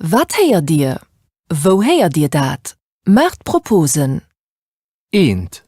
Wat héiert Dir? Wou héiert Dir dat? Maacht Proposen! Eent.